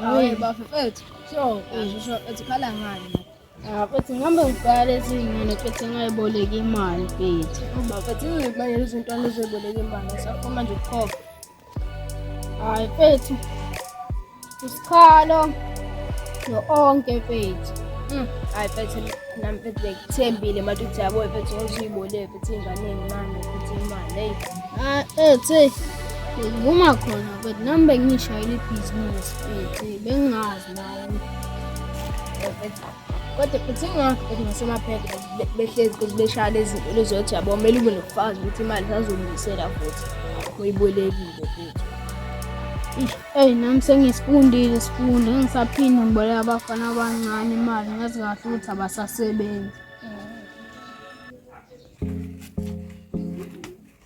Hayi bafethu, so uzisho ethi khala ngani? Ah, futhi ngihambe ngibhale izingane futhi ngayiboleka imali futhi. Bafethu, manje izinto alizoyiboleka imali, saphuma nje ukukhokha. hayi mfethu usikhalo no-onke mfethu hmm, hayi mfethu nami mfethu bekuthembile manje ukuthi yabo mfethu ngozuyibole mfethu ey'nganeni mani mfethu imali eyi ah, ethi ngivuma khona mfethu nami bengiyishayela ibhizinisi mfethu bengingazi nayo mfethu kodwa futhi ingakho bethi ngasemaphethe behlezi futhi beshaya lezi zinto zokuthi yabo kumele ube nokufakazi ukuthi imali sazolungisela futhi uyibolekile futhi eyi nami sengisifundile isifundo engisaphinde ngiboleka abafana abancane imali ngazi kahle ukuthi abasasebenzi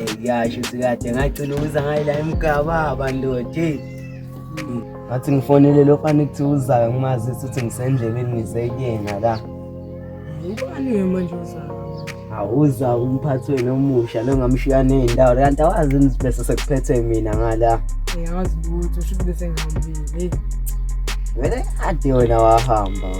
eyasho sikade ngagcina ukuza ngayila emgababa ndoda ngathi ngifonele lo fana ukuthi uzayo ngimazisa ukuthi ngisendleleni ngizeyena la ubani ke manje uzayo awuza umphathi wenu omusha lo ngamshiya ney'ndawo kanti awazi nibese sekuphethe mina ngala ngiyawazi ukuthi usho ukuthi besengihambile vele ade wena wahamba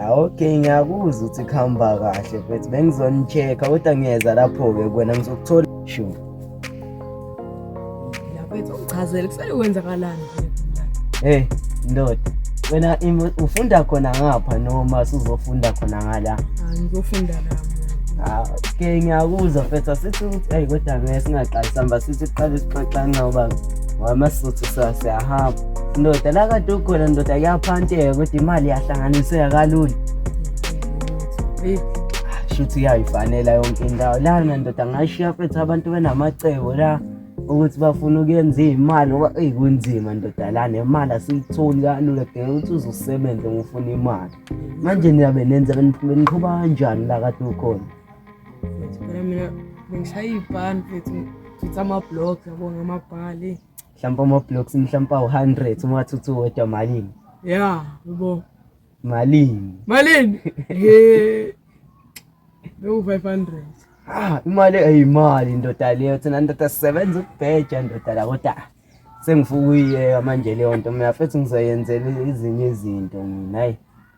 Ah, okay ngiyakuzwa ukuthi kuhamba kahle but bengizonicheck-a kodwa ngiyeza lapho-ke kwena ngizokuthola sure Laphethu uchazelwe kusele kwenzakalani hey ndoda wena im- ufunda khona ngapha noma sizofunda khona ngala Ah, ngizofunda nami Ah, okay ngiyakuzwa mfethu asithi ukuthi eyi kodwa ngeke singaqali sihamba sithi siqale sixoxane ngoba wamasuthu sa- siyahamba ndoda la kade ukhona ndoda kuyaphanteka kodwa imali yahlanganiseka kalula shuthi iyayifanela yonke indawo lana ndoda ngashiya fethu abantu benamacebo la ukuthi bafuna ukuyenza iy'mali ngoba eyi kunzima ndoda la nemali asiyitholi kalula kudinga ukuthi uzosebenze ngofuna imali manje niyabe nenza beniqhuba kanjani la kade ukhona mina bengishaya iy'bhani fethu ngitha amabhlog yabo ngamabhali mhlawumbe ama-blocks mhlawumbe awu-hundred uma wathi uthi uwedwa malini ya yebo malini malini ye bewu-five hundred ah imali eyimali ndoda leyo thina ndoda sisebenza ukubheja ndoda la kodwa sengifuna ukuyiyeka manje leyo nto mina futhi ngizoyenzela ezinye izinto mina hayi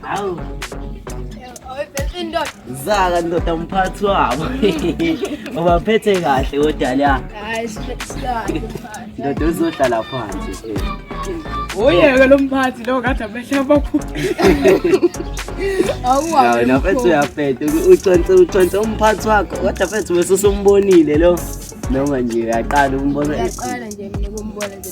Hawu. Awephethe ndoda. Zaka ndoda umphathi wabo. Ubaphethe kahle kodwa la. Hayi sihlale. Ndoda uzohlala phansi. Oyeke lo mphathi lo kade amehla abakhulu. Awuwazi. Na mfethu uyaphethe uconse uconse umphathi wakho kodwa mfethu bese usumbonile lo. Noma nje uyaqala umbona. Uyaqala nje mina kumbona nje.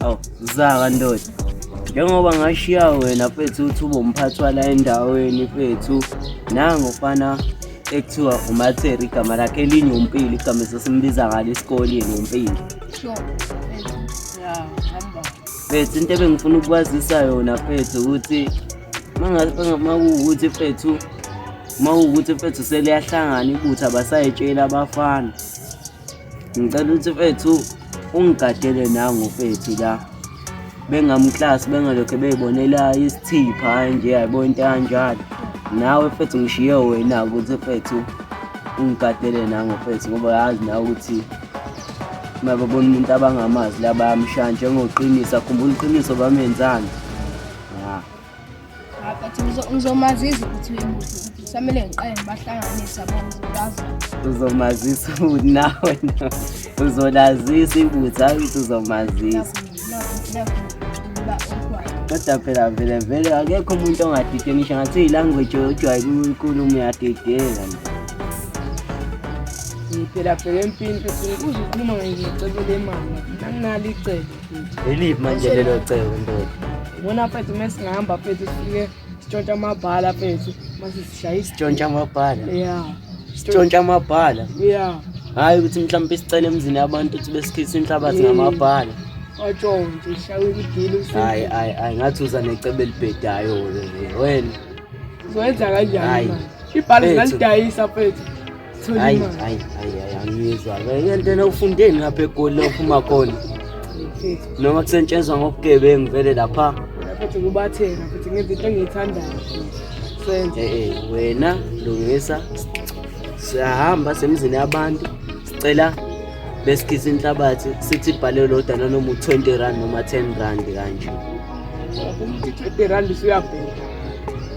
Awu zaka ndoda. Njengoba ngashiya wena mfethu uthi ubomphathi wala endaweni mfethu. Nango fana ekuthiwa uMatheri igama lakhe elinye uMpili igama esesimbiza ngalo esikoleni uMpili. Sure. Yeah, hamba. Mfethu into ebengifuna ukwazisa yona mfethu ukuthi makuwukuthi mfethu mawukuthi mfethu seliyahlangana ibutha basayitshela abafana Ngicela ukuthi mfethu ungigadele nangu mfethu la bengamklasi bengalokhe beyibonela isithipha nje yayibona into kanjalo nawe mfethu ngishiye wena ukuthi mfethu ungigadele nangu mfethu ngoba yazi nawe ukuthi uma babona umuntu abangamazi la bayamshaya njengoqinisa khumbula iqiniso bamenzani ngizomazisa ukuthi uyimuhle samele ngiqale ngibahlanganisa bonke uzomazisa ukuthi nawe uzolazisa ibutha ukuthi uzomazisa kodwa phela vele vele akekho umuntu ongadide ngisho ngathi iyilanguage ojwaye kuyikhulumo uyadideka phela phela empini uze ukhuluma ngecebo lemali nanginalo icebo Eliphi manje lelo cebo ndoda? Ngibona mfethu uma singahamba mfethu sifike sitshontsha amabhala mfethu mase sishaye isi- Sitshontsha amabhala. ya Sitshontsha amabhala. ya Hayi ukuthi mhlawumbe sicele emzini yabantu ukuthi besikhise inhlabathi Mm. ngamabhala. watshontshe ishawe imidili Hayi hayi hayi ngathi uza necebo elibhedayo wena. Wena. uzoyenza kanjani Hayi. manje ibhala Mfethu. ngalidayisa mfethu hayi hayi hayi angizwa yentena ufundeni lapha egoli ophuma khona noma kusentshenzwa ngobugebengu vele lapha futhi kubatheka futhi ngenza into engiyithandayo senze eh, eh, wena lungisa siyahamba semzini yabantu sicela besikhisa inhlabathi sithi ibhale lodwa nanoma u-20 rand noma 10 rand kanje umuntu 20 rand usuyabheka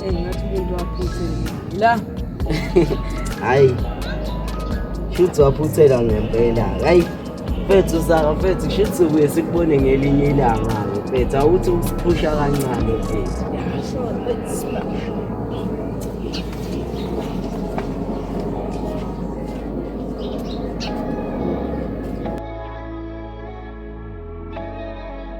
Hey, ngathi umuntu waphuthela. La. Hayi. Shuthi waphuthela ngempela. Hayi. Mfethu saka mfethu shuthi ubuye sikubone ngelinye ilanga mfethu awuthi usiphusha kancane mfethu.